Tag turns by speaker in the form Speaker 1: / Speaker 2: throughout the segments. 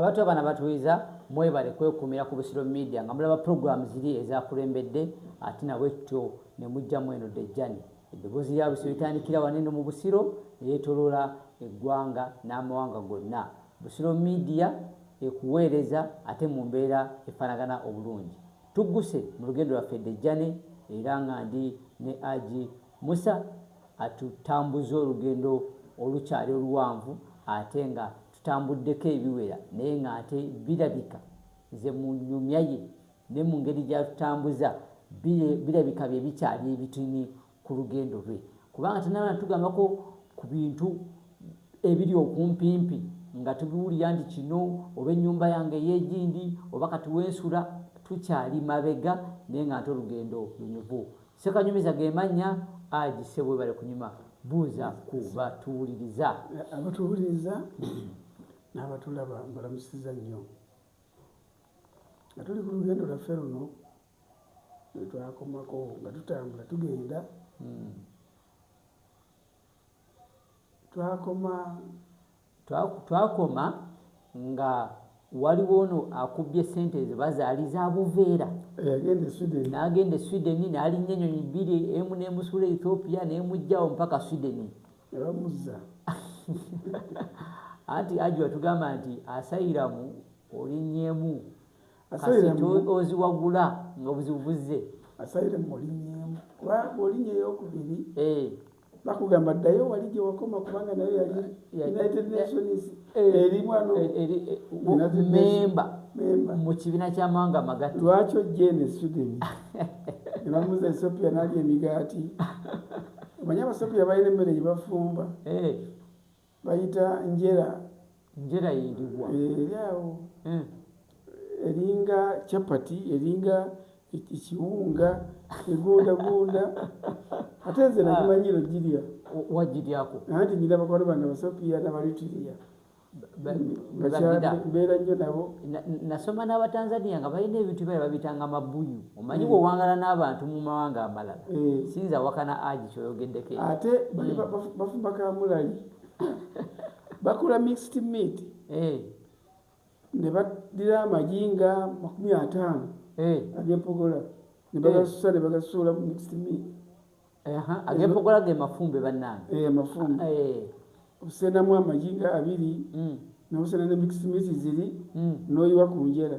Speaker 1: Abato abana batuwiza mwebale kwekumira ku Busiro Media nga mulaba program ziri ezakulembedde ate nabwekityo nemujja mweno Dejjani. Eddoboozi lya Busiro litandikira wano eno mu Busiro neyetoloola eggwanga n'amawanga gonna. Busiro Media ekuweereza ate mu mbeera efanagana obulungi. Tugguse mu lugendo lwaffe Dejjani era nga ndi ne Aji Musa atutambuza olugendo olukyali oluwanvu ate nga Tutambuddeko ebiwera naye ng'ate birabika nze mu nnyumya ye ne mu ngeri gy'atutambuza birabika bye bikyali ebitini ku lugendo lwe kubanga tannaba natugambako ku bintu ebiri okumpimpi nga tubiwulira nti kino oba ennyumba yange ey'egindi oba kati wensula tukyali mabega naye ng'ate olugendo lunyuvu. Sekanyumiza ge mannya Haji ssebo webale kunyuma buuza ku batuwuliriza. Abatuwuliriza
Speaker 2: n'abatulaba mbalamusiza nnyo nga tuli ku lugendo lwaffe luno lwetwakomako nga tutambula tugenda hmm.
Speaker 1: twakoma twakoma nga waliwo ono akubbye sente ezo bazaali za buveera nagenda esweden nalinnya enyonyi bbiri emu nemusuula ethiopia nemugjawo mpaka sweden anti aji watugamba nti asayiramu olinyemu kasita oziwagula nga obuzibu buzze asaire
Speaker 2: mulinyemu kubanga olinya eyokubiri eh. bakugamba ddayo wali gyewakoma kubanga nayo yali united nations eh. eri mwanomemba
Speaker 1: eh, mu kibiina kyamawanga amagati lwaki ojje ne
Speaker 2: sweden nebamuza ethiopia nalya emigaati omanye abasopiya balina emmere gyebafumba Bayita njera. Njera yeriwa?
Speaker 1: Eh, eri awo
Speaker 2: mm. eringa chapati eringa ekiwunga egundagunda ate nze ah. nakimanyiro girya wagiryako
Speaker 1: anti nyina bakwano
Speaker 2: bange abasopiya nabalitiria mbeera nnyo nabo nasoma
Speaker 1: n'abatanzania nga balina ebintu byae babitanga mabuyu omanyi bwewangala n'abantu mu mawanga amalala eh. sinza awakana agi kyoyogeddeko ate hmm.
Speaker 2: bafumba kamulali bakula mixed meat eh. ne baddira amagi nga makumi ataano eh. agempogola ne bagasusa ne bagasuula mu mixed meat
Speaker 1: agempogola ge mafumbe bannange mafumbe
Speaker 2: obusenamu amagi nga abiri hmm. nobusena ne mixed meat ziri hmm. noyiwa ku njera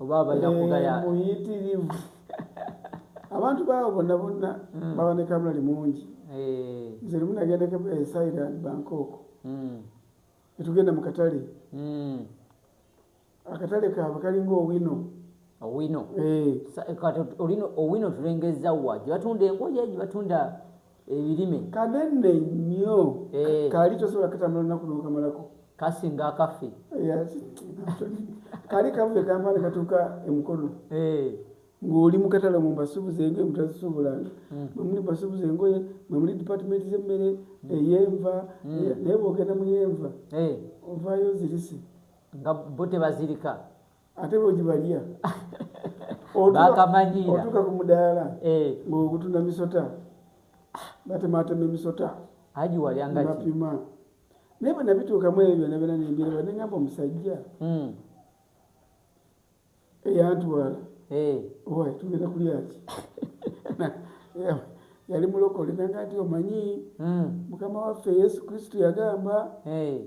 Speaker 1: oba abalina kugaya eh, muyitirivu
Speaker 2: abantu baawo bonna bonna hmm. baba ne kamula limungi eh. nze limu nagenda kamula e thailand bangkok hmm. netugenda mu katale hmm. akatale kaabwe kalinga owino owino eh. owino tulengezza wa gyebatunda engoye gyebatunda ebirime kanene nnyo eh. kali tosobola katambula lunaku nokamalako kasinga akafe kali kavude kampale katuuka emukono eh. ng'oli mu katale mu mbasuubuza engoye mutazisuubulanga hmm. mwemuli mbasuubuza engoye mwemuli dipatimenti z'emmere hmm. eyenva hmm. naye bwogenda mu yenva ovaayo zirise nga bo
Speaker 1: tebazirika ate
Speaker 2: bwegibalya
Speaker 1: otuka ku mudaala
Speaker 2: eh. ngaogutunda misota batematema emisota
Speaker 1: bapima
Speaker 2: naye bwenabituukamu ebyo byona byona nembira bade ngamba omusajja hmm. eyantwala eh. owaye tugenda kulyaki yali mulokole nanga nti omanyi hmm. mukama waffe yesu kristu yagamba eh.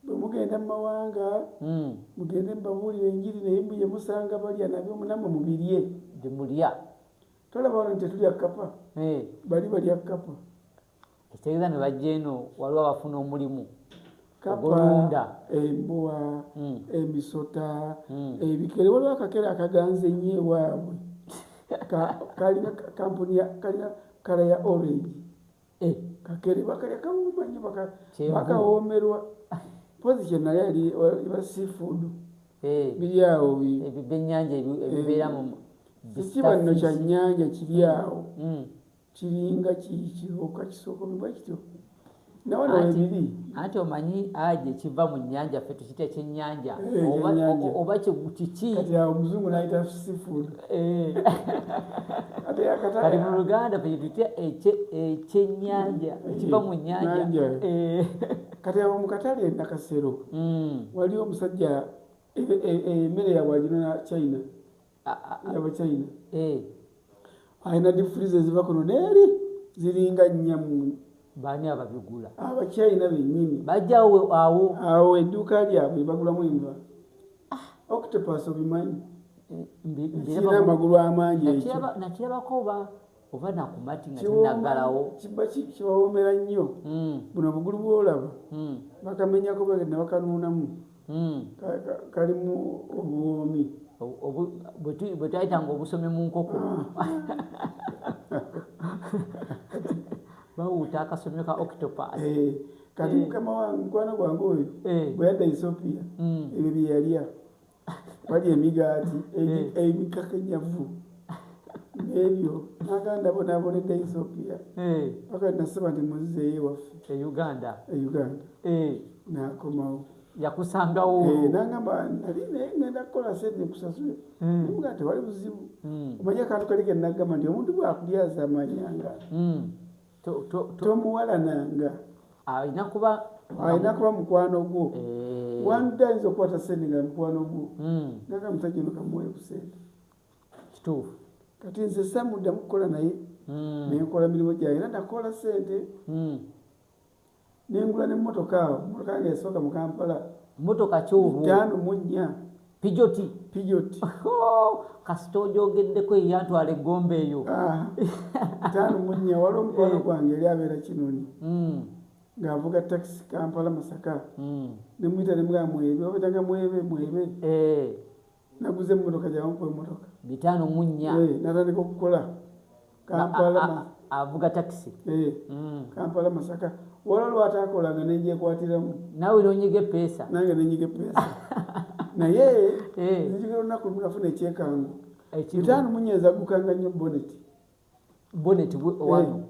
Speaker 2: Bwe mugenda mu mawanga, mugende mubabuulire Enjiri, naye mbu ye musanga balya nabyo, namwe mubirye. Bye mulya.
Speaker 1: Tolaba
Speaker 2: wano nti tetulya kkapa? Bali balya kkapa. Ekitegeeza
Speaker 1: ne bajja eno waliwo abafuna omulimu ogulunda
Speaker 2: embuwa, emisota, ebikere. Waliwo akakere akaganze ennyo ewaabwe kalina kampuni kalina kala ya orange. Eh, kakere bakalya kawuuma nyo bakawoomerwa mpozi kyonna yali iba seafood eh. biri awo ebyo byennyanja
Speaker 1: ebibeera eh.
Speaker 2: mu kiki banno kya nnyanja kiri awo mm. kiringa kikiroka kisookomebwa kityo nawe nawe biri anti omanyi
Speaker 1: aje kiva mu nnyanja fetu kya kyenyanja oba kiki omuzungu nayita
Speaker 2: seafood
Speaker 1: kati mu luganda kyetutya ekyenyanja ekiva mu nyanja
Speaker 2: kati abo mukatale nakasero waliwo omusajja emmere yabwe aginona china yabachina eh. alina difuriza eziva kuno neeri ziringa nyamu baani
Speaker 1: ababigula abachina benyini
Speaker 2: bajawo awo
Speaker 1: awo edduuka
Speaker 2: lyabwe bagulamu enva ah. octopus obimanyi eh, kirina amagulu amangi ekyo nakirabako ba
Speaker 1: oba nakumati nga tinagalawo kibawoomera
Speaker 2: nnyo hmm. buno obugulu bwolaba hmm. bakamenyako bagenda bakanuunamu hmm. kalimu obuwoomi
Speaker 1: bwetwayitanga obusomi mu nkoko ah. bawuuta akasomyo ka octopus eh, kati eh.
Speaker 2: mukama wange mukwano gwange oyo eh. bwe yadda ethiopia ebyo byeyalya wali emigaati ebikakanyavu ebyo naganda bonabonedda ethiopia paka nasaba nti muzizeyo ewaffe euganda euganda
Speaker 1: nakomawo
Speaker 2: yakusangawo
Speaker 1: nagamba
Speaker 2: nali naye ngenda kukola sente kusasule nga tewali buzibu omanya akantu kali kenagamba nti omuntu bwakulyaza amanyanga tomuwalananga alina kuba
Speaker 1: alina kuba mukwano
Speaker 2: gwo eh. one day ayinza okukwata sente nga mukwano gwo hmm. naga musajja no kamuwayo ku sente kituufu
Speaker 1: kati nze
Speaker 2: samuddamu kukola naye hmm. nenkola mirimu gyayo era nakola sente hmm. nengula ne motoka awo motoka yange yasooka mu kampala motoka
Speaker 1: kyotaano mu nnya
Speaker 2: pijoti pijoti oh,
Speaker 1: kasita ojogeddeko eyantwala egomba eyo ah, taano
Speaker 2: mu nnya waliwo omukwano eh. gwange eri abeera kinoni hmm. ng'avuga takisi kampala masaka hmm. nemuyita nemugamba mwebe obetanga mwebe mwebe eh. naguze emmotoka gyawankuba emmotoka bitaano mu nnya eh,
Speaker 1: natandika okukola
Speaker 2: kampala avuga
Speaker 1: takisi eh, mm. kampala
Speaker 2: masaka wala lwatakolanga nenjekwatiramu nawe nonyiga
Speaker 1: epeesa nange nenyiga epeesa
Speaker 2: naye eh. nzigira olunaku lumu nafuna ekyekango bitaano mu nnya ezagukanga nnyo boneti boneti owano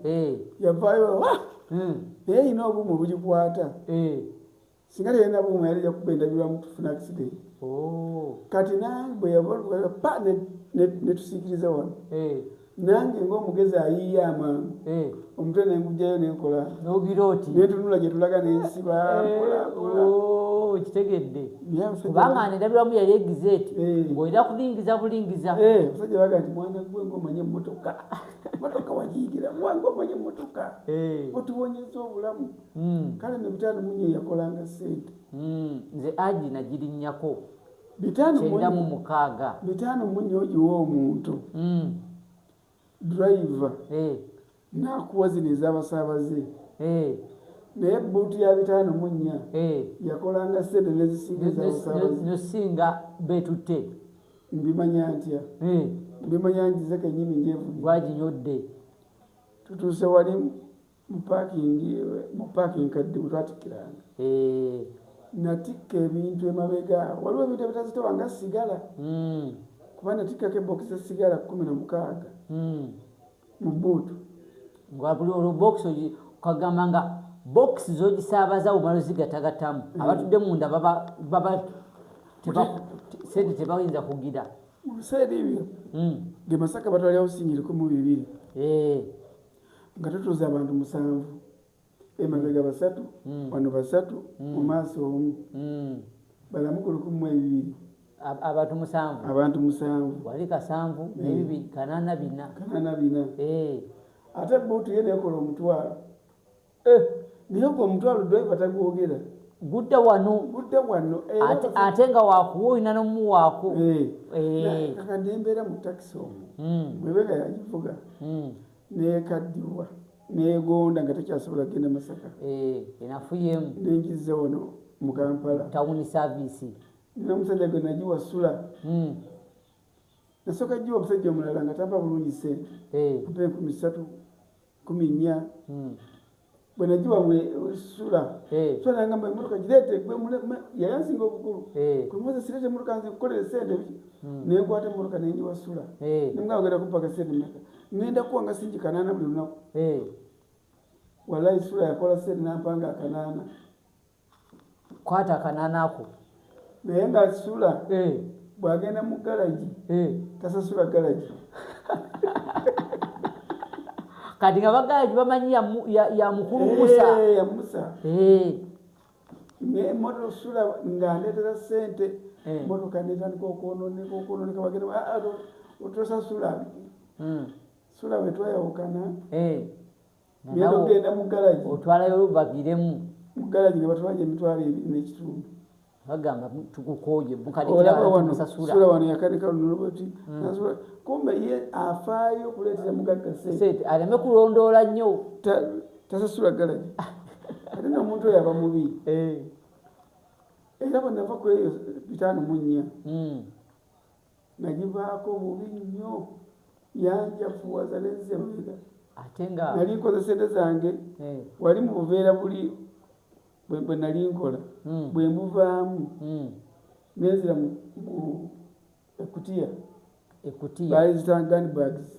Speaker 1: yavayo
Speaker 2: hmm. naye yina obumu obugikwata singa teyalina buuma yali yakuba endabirwamu tufuna accident oh. kati nange bwe yabapa netusiikiriza wano eh. nange ngaomugezi ayiiya amangu eh. omutwe nengujjayo nenkola netunula gyetulaga nensiba okitegedde
Speaker 1: kubanga nedabiramu yali egize ti eh. ngaolina kulingiza bulingiza eh, musajja baga nti
Speaker 2: mwana gwe ngaomanye emotoka motoka wagiyigira mwana omanye emotoka eh. otubonyeza obulamu Hmm. kale ne bitaano munye yakolanga sente hmm. nze
Speaker 1: agi nagirinnyako kyenda mu mukaaga
Speaker 2: bitaano munye ogiwa omuntu hmm. driver eh. nakuwa zino ezabasaabaze eh. naye buutu ya bitaano munnya eh. yakolanga sente nezisigaezisinga
Speaker 1: betutte mbimanya
Speaker 2: ntya mbimanya njize kenyini njevu gwaginyodde tutuuse walimu mu paakingi mu paaki enkadde bwe twatikkiranga eh. natikka ebintu emabega waliwo ebintu ebitazitowa nga sigala hmm. kuba natikkako ebokisi esigala kumi na mukaaga hmm. mu buutu ngabuli
Speaker 1: olwo bokisi kagamba nga bokisi zogisaabaza wumala ozigatagatamu hmm. abatudde munda baba sente tebayinza kugira mu biseera ebyo
Speaker 2: ge masaka batwalyawo sinyiriko mu bibiri eh. nga tutuuza abantu musanvu emabega basatu mm. wano basatu mm. mu maaso omu mm. balamu ku lukumu ebibiri abantu
Speaker 1: musanvu abantu
Speaker 2: musanvu wali kasanvu
Speaker 1: mm. nebibiri kanana bina kanana bina e. ate buutu ye
Speaker 2: nekola omutwalo Eh, naye gwe omutwalo driver tagwogera gudda wano
Speaker 1: gudda wano ate nga wakuwa olina nomuwaako eh. eh.
Speaker 2: kaka nembeera mu takisi omu hmm. mwebega yagivuga hmm. nekaddiwa negonda nga tekyasobola kugenda masaka enafuyemu
Speaker 1: nenjiza wano
Speaker 2: mu kampala tawuni saviisi
Speaker 1: nomusajja
Speaker 2: gwe nagiwa sula hmm. nasooka giwa omusajja omulala nga tamba bulungi sente mpa enkumi satu kumi nnya hmm. bwe nagiwa mwe sula eh. sula nangamba emotoka gireete gwe yayansinga obukulu eh. kwe muze sireete emotoka nze kukolera sente biki hmm. ne nkwata emotoka ne ngiwa sula eh. nemugamba ogenda kumpaka sente meka ngenda kuwa nga singi kanaana buli lunaku wallahi sula yakola sente nampanga akanaana
Speaker 1: kwata akananako naye nga
Speaker 2: asula eh. bwagenda mu galagi eh. tasasula galagi
Speaker 1: kati nga bagalagi bamanyi yamukulu eh, musa yamusa
Speaker 2: naye moto osula nga ndetera sente motoka netandika okwononeka okwononeka bagenda ah, ah, otosasula hmm. sula wetwayawukana ngenda okugenda mu galagi otwalayo olubagiremu
Speaker 1: mu galagi ne
Speaker 2: batwalayo emitwalo ebiri n'ekitundu bagamba
Speaker 1: tukukoye mukadikiratusasula
Speaker 2: wano yakadika lunulubati hmm. nasula kumbe ye afaayo okuleetera mugagga sente aleme kulondoola
Speaker 1: nnyo tasasula
Speaker 2: galagi ate nomuntu oyo aba mubi eh. era bwenava kweyo bitaano munnya hmm. nagivaako bubi nnyo yanjafuwaza nenze mabega ate nga nali
Speaker 1: nkoze sente zange
Speaker 2: eh. wali mu buveera buli bwe nali nkola hmm. bwe mbuvaamu hmm. nenzira mu ekutiya ekutiya baali zitanga bags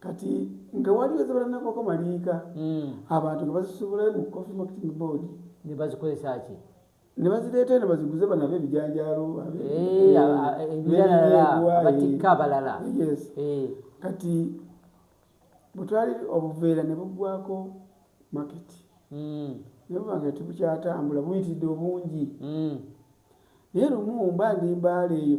Speaker 2: kati nga waliwo ezibalanakoko maliika hmm. abantu nga bazisubulayo mu coffee marketing board nebazikozesa
Speaker 1: ki nebazireeta
Speaker 2: eno baziguze banabe ebijanjalo ebiralabatikka
Speaker 1: abalala
Speaker 2: kati bwetwali obuveera ne buggwako maketi hmm. naye buba nga tebukyatambula buyitiridde obungi hmm. naye lumu mba ndi mbaala eyo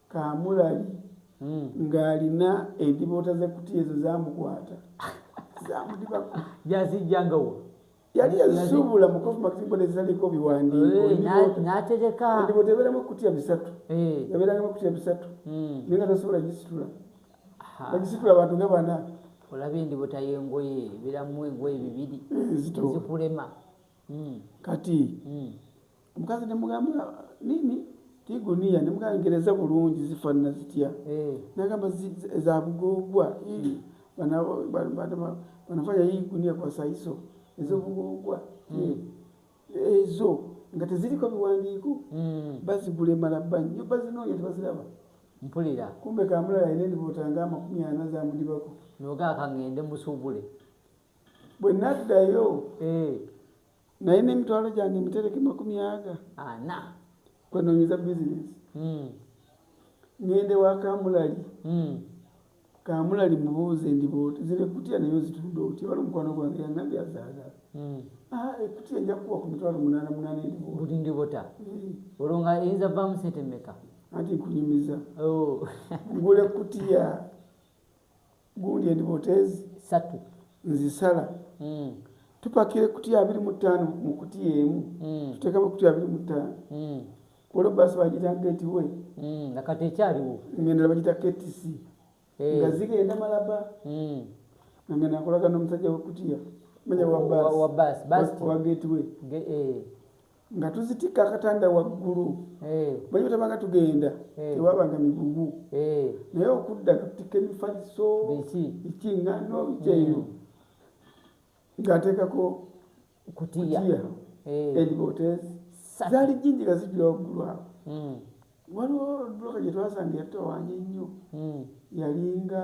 Speaker 2: Kaamulali ng'alina endiboota z'ekkutiya ezo zaamukwata zaamudibako. Yazijjanga
Speaker 1: wa? yali
Speaker 2: yazisuubula mu kofu makitimbo nezizaliko biwandiikoendiboota
Speaker 1: eh, ebeeramu ekkutiya
Speaker 2: bisatu ebeerangamu eh. ekkutiya bisatu hmm. naye nga tasobola gisitula bagisitula abantu nga bana olaba endiboota
Speaker 1: y'engoye ebeeramu engoye bibiri eh, zikulema hmm.
Speaker 2: kati hmm. omukazi nemugamba nini tiguniya nemugangereza bulungi zifanana zitya eh. nagamba zabugogwa hmm. banafanya hii gunia kwa saizo ezobugogwa hmm. hmm. ezo nga teziriko biwandiiko bazigula emala bba nyo bazinoonya tebaziraba mpulira
Speaker 1: kumbe kamulala
Speaker 2: ine ndibotanga amakumi ana zamudibako nogakangende
Speaker 1: musubule
Speaker 2: bwenaddayo eh. naye nemitwalo gyange mitereke makumi aga ana kwenonyeza bizinesi hmm. ngende wa kamulali hmm. kamulali mubuuze ndibooti zino ekutya naye ozitunda otya wali omukwano gwange yangambye azaagala hmm. ah, ekutya nja kukuwa ku mitwalo munaana munaana endibuli ndibota
Speaker 1: olwo nga eyinza vaamu sente meka anti nkunyumiza
Speaker 2: oh. ngula ekutya gundi endiboota ezi satu
Speaker 1: nzisala
Speaker 2: mm. tupakira ekutiya abiri mu ttaano mu kutiya emu mm. tuteekamu ekutiya abiri mu ttaano mm. olwo baasi bagita geti we mm. nakati
Speaker 1: ekyaliwo ngenda bagita ktc
Speaker 2: hey. Eh. nga zigenda malaba mm. nange nakolaga n'omusajja wekutiya manya wa
Speaker 1: baasi wa geti we
Speaker 2: Ge, eh. nga tuzitikka akatanda waggulu bwe tabanga tugenda tewabanga migugu naye okudda tutikka emifaliso ekiŋŋano bikyeyo ng'ateekako kutiya edibotes zaali jinji nga zijula waggulu awo hmm. waliwo duka gye twasanga yatawanya ennyo hmm. yalinga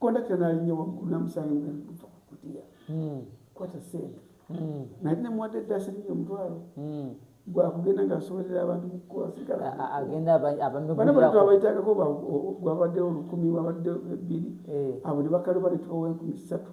Speaker 2: kondakita nalinya waggulu namusanga nga luva ku kutiya hmm. kwata sente hmm. nali nemuwadde eddaasiringi omutwalo hmm. gwakugenda nga asobolera abantu mukukola sigalabaitagako gwabaddewo olukumi wabaddewo ebbiri eh. abo ne bakaluba ne tubawa enkumi ssatu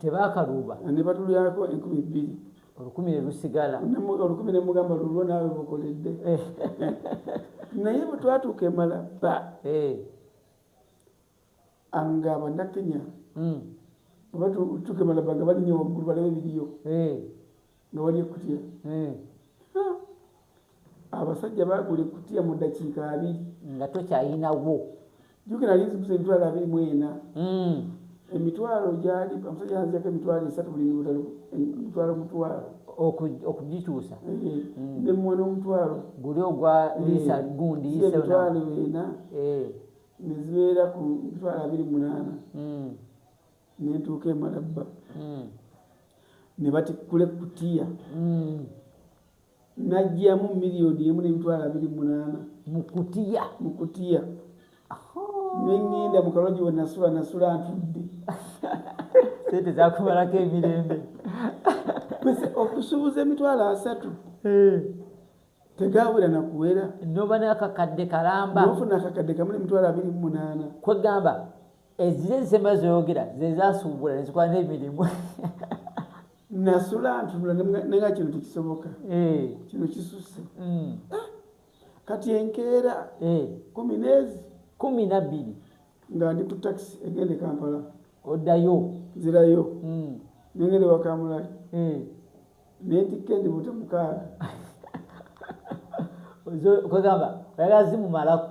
Speaker 2: tebakaluuba
Speaker 1: ne batulyako
Speaker 2: enkumi bbiri olukumi ne
Speaker 1: lusigala olukumi ne mugamba
Speaker 2: lulwo naawe bukoledde eh. naye bwe twatuuka emala ba eh. nga abannakenya hmm. batuuka emala ba nga balinya waggulu balaba ebiriyo eh. nga wali ekutya hmm. abasajja bagula ekutya mu dakiika abiri nga tokyayinawo
Speaker 1: jukira ali
Speaker 2: nzibuza emitwalo abiri mu ena hmm. emitwalo gyali omusajja anziyako emitwalo esatu buli mibutalo emitwalo mutwalo
Speaker 1: okugikyusa
Speaker 2: nemuwa nomutwalo guli ogwa
Speaker 1: lisa gundi emitwalo ena
Speaker 2: nezibeera ku mitwalo abiri munaana nentuuka emalabba hmm. ne batikkula ekkutiya hmm. najjamu miliyoni emu nemitwalo abiri munaana mukutiya mukutiya nengenda mukaloji wenasula nasula ntudde
Speaker 1: sente zakumalako emirembe okusubuza
Speaker 2: emitwalo asatu eh. tegabula nakuwera noba nakakadde
Speaker 1: kalamba nofuna akakadde kamu
Speaker 2: nemitwalo abiri munaana kwegamba
Speaker 1: Ezire nsema zoyogera zezasuubula nezikola nemirimu nasula
Speaker 2: ntunula nenga kino tekisoboka eh. kino kisuse mm. ah, kati enkeera eh. kumi nezi kumi
Speaker 1: nabbiri nga ndi ku
Speaker 2: takisi egende kampala oddayo
Speaker 1: nzirayo
Speaker 2: mm. nengende wakamulali eh. netikka endi buta mukaaga kwegamba oyagala
Speaker 1: zimumalako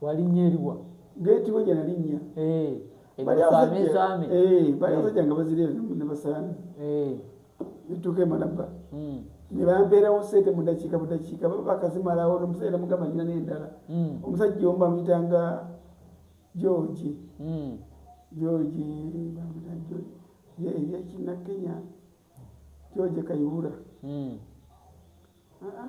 Speaker 1: Walinnya eriwa? Gate we gyanalinnya.
Speaker 2: Eh. Bali asajja sami. Eh, bali eh. asajja nga bazire ne basami. Eh. Bituke malaba. Mm. Ne bampera osete mu dakika mu dakika baba bakazimala wo no musajja mugamba nyina ne ndala. Mm. Omusajja omba mitanga George. Mm. George bamita George. Ye ye kina Kenya. George Kayihura. Mm. Ah. Uh -uh.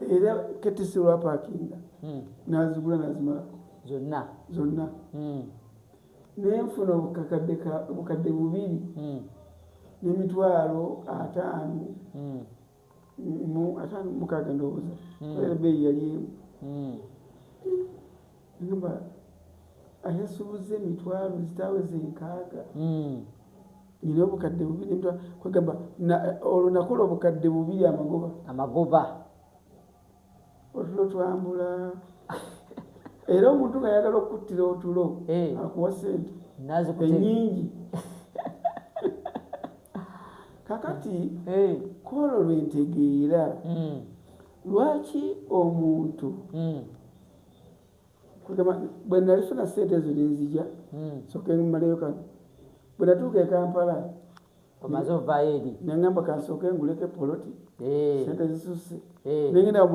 Speaker 1: era
Speaker 2: ketisi lwapakinga hmm. nazigula nazimala zonna zonna hmm. nenfuna obukadde bubiri hmm. nemitwalo ataano ataano mukaga ndowooza era beeyi yali emu Agamba ayasubuzza emitwalo zitaweza enkaaga hmm. nina obukadde bubiri kwegamba olwo nakola obukadde bubiri amagoba amagoba otulo twambula era omuntu nga yagala okukuttira otulo eh. akuwa sente enyingi kakati eh. kwolwo lwentegeera hmm. lwaki omuntu hmm. bwe nalifuna sente ezo nenzija hmm. soke mmaleyo kano bwe natuuka ekampala omaze
Speaker 1: ovaayo eri nengamba kansooke
Speaker 2: nguleko epoloti eh. sente zisusse eh. nengenda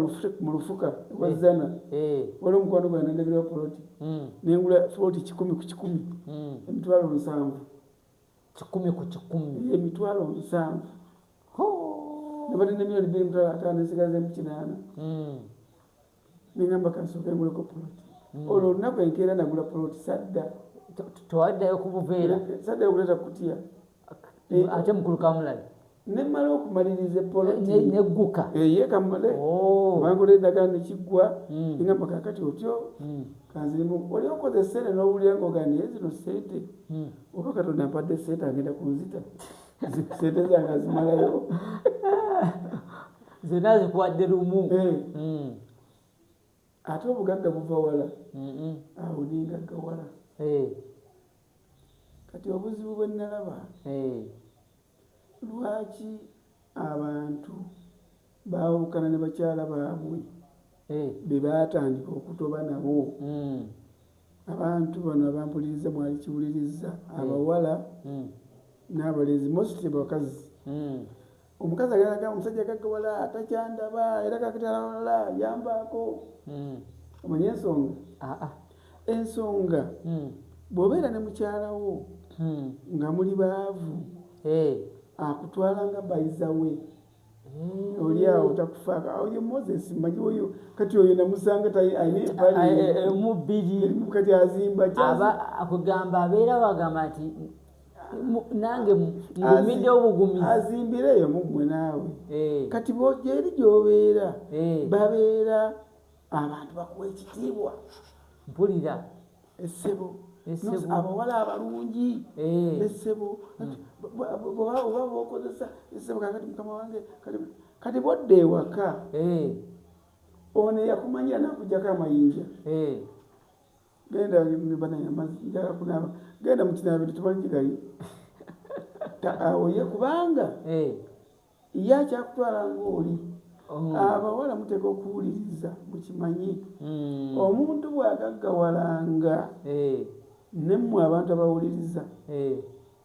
Speaker 2: mu lufuka wazana eh. wali omukwano gwa nendagirawo poloti hmm. nengula poloti kikumi ku kikumi hmm. emitwalo nsanvu kikumi
Speaker 1: ku kikumi emitwalo nsanvu
Speaker 2: nabadde nemiliyoni biri mutwalo ataano esigaza emukinaana nengamba kansooke nguleko poloti hmm. olwo olunaku enkeera nagula poloti sadda tewaddayo
Speaker 1: kubuveera saddayo kuleta kutiya
Speaker 2: ate
Speaker 1: mukulu kamulali nemala
Speaker 2: okumaliriza epolotnegguka
Speaker 1: eyekamale
Speaker 2: bangula edagala nekiggwa engamba kakati otyo kanzirimu oli okoze sente nowulira ngoga naye zino sente oba katonda mpadde sente agenda kunzita sente zange azimalayo
Speaker 1: zena zikuwadde lumu eh. mm.
Speaker 2: ate obugagga buva wala awo nengagga wala eh. kati obuzibu bwenalaba eh. lwaki abantu bawukana ne bakyala baabwe bebatandika okutoba nabo mm. abantu bano abampuliriza mwali kiwuliriza abawala mm. n'abalenzi mostly bakazi omukazi agalaga omusajja gaggawala takyandaba era kakitalaala yambaako hmm. omanye ensonga ah, ah. ensonga hmm. bw'obeera ne mukyalawo hmm. nga muli baavu eh. akutwala nga bayizawe oli awo takufaaka oyo moses manyi oyo kati oyo namusanga tainebalimu eh, eh, bbiri kati azimba akugamba
Speaker 1: abeera wagamba nti nange ngumidde obugumizi azimbireyo muggwe
Speaker 2: naawe eh. kati bojeeri gyobeera eh. babeera abantu bakuwa ekitiibwa mpulira
Speaker 1: esebo
Speaker 2: abawala abalungi eh. esebo hmm. oba bokozesa esebo kakati mukama wange kati bodda ewaka ono eyakumanyira nakujjako amayinja genda banange amazzi njala kunaaba genda mukinaabiro tebaligigayo awoye kubanga eh. ye akyakutwala ngaoli oh. abawala muteka okuwuliriza mukimanyi hmm. omuntu bwagaggawalanga eh. nemmwe abantu abawuliriza eh.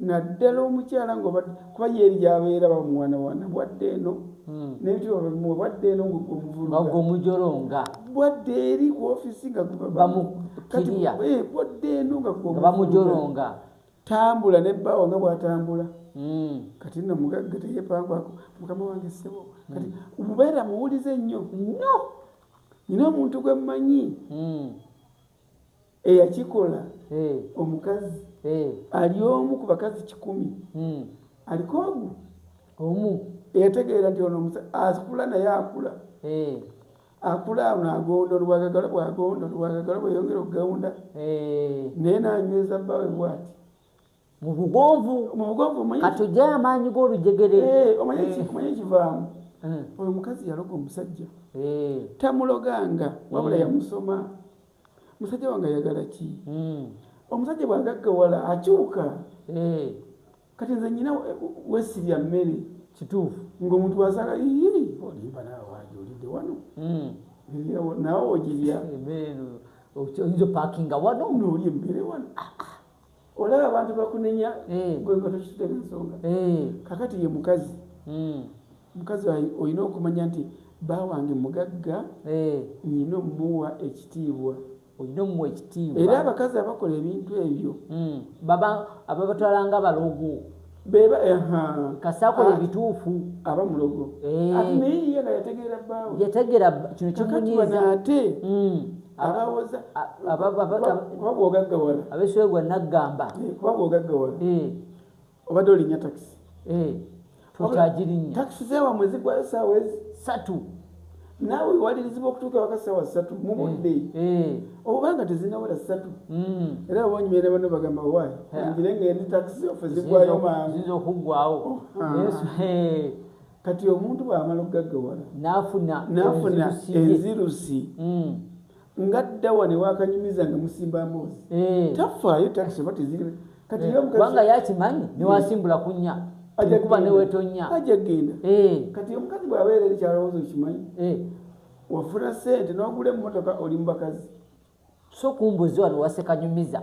Speaker 2: naddala omukyala ngaobadde kuba ye eri gyabeera bamuwanawana bwadde eno hmm. nebitibwa babimuwa bwadde eno ngaomuvuluga omujolonga
Speaker 1: bwadde
Speaker 2: eri ku ofisi nga eh,
Speaker 1: bwadde
Speaker 2: eno nga bamujolonga
Speaker 1: tambula
Speaker 2: ne bbaawo nga bwatambula hmm. kati no mugagga teyepangwako mukama wange ssebo kati hmm. mubeera muwulize nnyo nnyo nyina omuntu gwe mmanyi eyakikola eh. omukazi eh. ali omu ku bakazi kikumi hmm. aliko omu omu eyategeera nti ono akula naye akula eh. akula ono agonda olwagagala bwagonda olwagagala bweyongera okugawunda naye nanyweza bbawe bwati mu
Speaker 1: bugonvu mu bugonvu omanyi katujja amaanyi g'olujegere eh omanyi ki omanyi
Speaker 2: kivaamu eh. oyo mukazi yaloga omusajja eh tamuloganga wabula hmm. yamusoma musajja wange ayagala ki hmm. omusajja bwagaggawala akyuka eh. kati nze nyina wesirya mmere kituufu
Speaker 1: ng'omuntu wasala
Speaker 2: ii olimba naawe waja olidde wano hmm. nawe ogirya
Speaker 1: oyinza opakinga wano nooli emmere wano
Speaker 2: ah, ah. olaba abantu bakunenya eh. gwegotokitutemu ensonga eh. kakati ye mukazi hmm. mukazi olina okumanya nti ba wange mugagga eh. nyina omuwa ekitiibwa olina omuwa ekitiibwa era abakazi abakola ebintu ebyo hmm. baba ababatwalanga
Speaker 1: abalogo beba kasakole
Speaker 2: ah, bituufu aba
Speaker 1: mulogo
Speaker 2: eh. ati naye ye nga yategeera bbaawe yategeera kino
Speaker 1: kimunyiiza ate hmm.
Speaker 2: abawoza kuba bwogaggawala abeswegwa naggamba
Speaker 1: eh, kuba bwogaggawala
Speaker 2: eh. obadde olinya takisi tokyagirinya takisi
Speaker 1: zewamwe
Speaker 2: zigwayo saawa ezi satu naawe wewalirizibwa okutuuka waka sawa satu mu eh, budde eh. obanga tezinawera satu hmm. era abonyumira bano bagamba wayi ngire nga eni takisi ofe zigwayo mangu okugwawo
Speaker 1: oh,
Speaker 2: kati omuntu bwamala okugaggawala nafuna
Speaker 1: enzirusi
Speaker 2: hmm. nga dawa ne wakanyumiza nga musimba mbozi eh. tafaayo taxi oba tezirime kati eh, kubanga yakimanyi
Speaker 1: eh. newasimbula kunya kuba newetonya aja genda
Speaker 2: kati omukazi bwabeera eri kyalowooza okimanyi wafuna sente nogula emotoka oli mubakazi so
Speaker 1: kumbuzi wano wasekanyumiza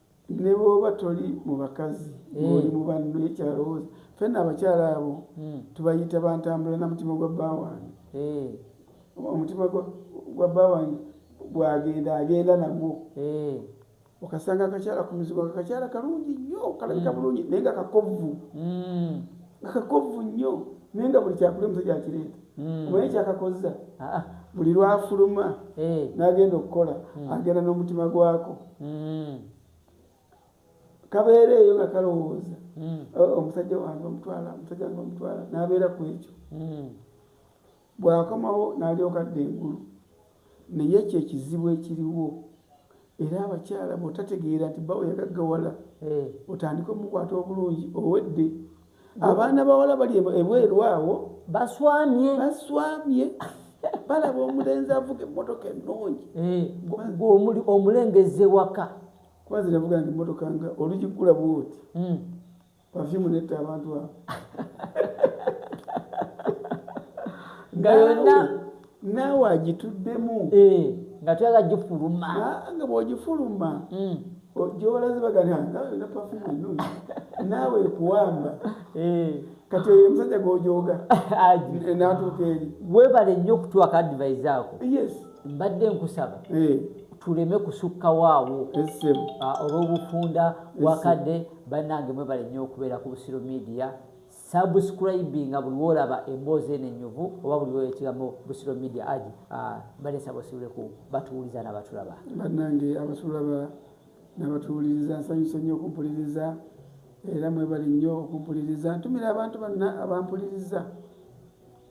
Speaker 2: ne bwoba toli mu bakazi ng'oli hmm. mu banno ye kyalowooza fenna abakyala abo hmm. tubayita bantambula na mutima gwa bba wange hmm. omutima gwa bba wange bwagenda agenda nagwo okasanga akakyala ku mizigo nga kakyala kalungi nnyo kalabika bulungi naye nga kakovvu nga kakovvu nnyo naye nga buli kyakulya omusajja akireeta hmm. omanyi kyakakozza ah. buli lwafuluma eh. nagenda okukola hmm. agenda n'omutima gwako hmm. kabeera eyo nga kalowooza omusajja wange omutwala omusajja wange omutwala nabeera ku ekyo bwakomawo nalyoka dda engulu naye ekyo ekizibu ekiriwo era abakyala bwotategeera nti bawo yagaggawala eh. otandika omukwata obulungi owedde abaana bawala bali ebweru awo baswamye baswamye balaba omulenzi avuga emmotoka ennungi eh. omulengezze
Speaker 1: waka kuba ziravuga
Speaker 2: nti emmotoka nga olugikula bwoti hmm. perfume netta abantu abo
Speaker 1: nga yonna naawe
Speaker 2: agituddemu eh, nga
Speaker 1: tuyala gifuluma nga bwogifuluma
Speaker 2: hmm. gyobalaze bagana na perfume ennungi naawe ekuwamba eh. kati oyo omusajja gwojoga natuuka eri webale nnyo okutuwaka
Speaker 1: advise ako yes mbadde
Speaker 2: nkusaba
Speaker 1: eh. tuleme kusukka waawo ah, olw'obufunda wakadde bannange mwebale nnyo okubeera ku busiro media subscribinga buli wolaba emboozi eno enyuvu oba buli wola ekigambo busiro media agi ah, balesa basibuleku batuwuliza nabatulaba bannange abatulaba
Speaker 2: nabatuwuliriza nsanyuse nnyo okumpuliriza era mwebale nnyo okumpuliriza ntumira abantu banna abampuliriza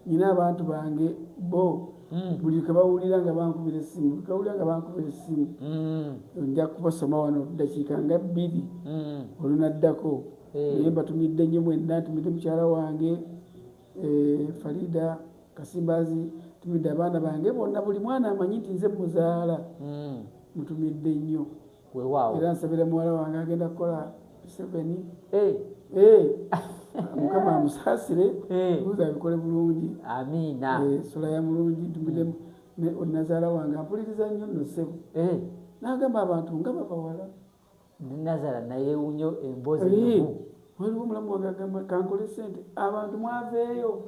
Speaker 2: Nina abantu bange bo mm. buli kebawulira nga bankubira essimu buli kebawulira nga bankubira essimu mm. nja kubasoma wano ddakiika nga bbiri mm. olunaddako eh. naye mm. mbatumidde nnyo mwenna ntumidde mukyala wange e, farida kasimbazi ntumidde abaana bange bonna buli mwana amanyi nti nze muzaala mm. mutumidde nnyo Weewaawo. Era nsabira muwala wange agenda kukola Museveni. Eh. Eh. Mukama amusaasire. Eh. Buuza abikole bulungi. Amiina. Eh,
Speaker 1: sula ya mulungi
Speaker 2: tumide mm. ne onazaala wange ampuliriza nnyo nno ssebo. Eh. N'agamba abantu nga babawala. Nazala
Speaker 1: naye unyo embozi. Eh. waliwo mulamu
Speaker 2: wange agamba kankole sente abantu mwaveeyo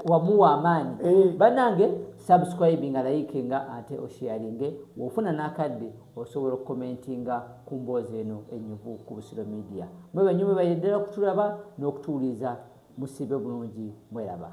Speaker 2: wamuwa
Speaker 1: amaanyi eh. banange subscribe nga layike nga ate osharinge wofuna nakadde osobola okukomentinga ku mboozi eno enyuvu ku busiro media mwe banyuma bayeddala okutulaba n'okutuwuliza musibe bulungi mweraba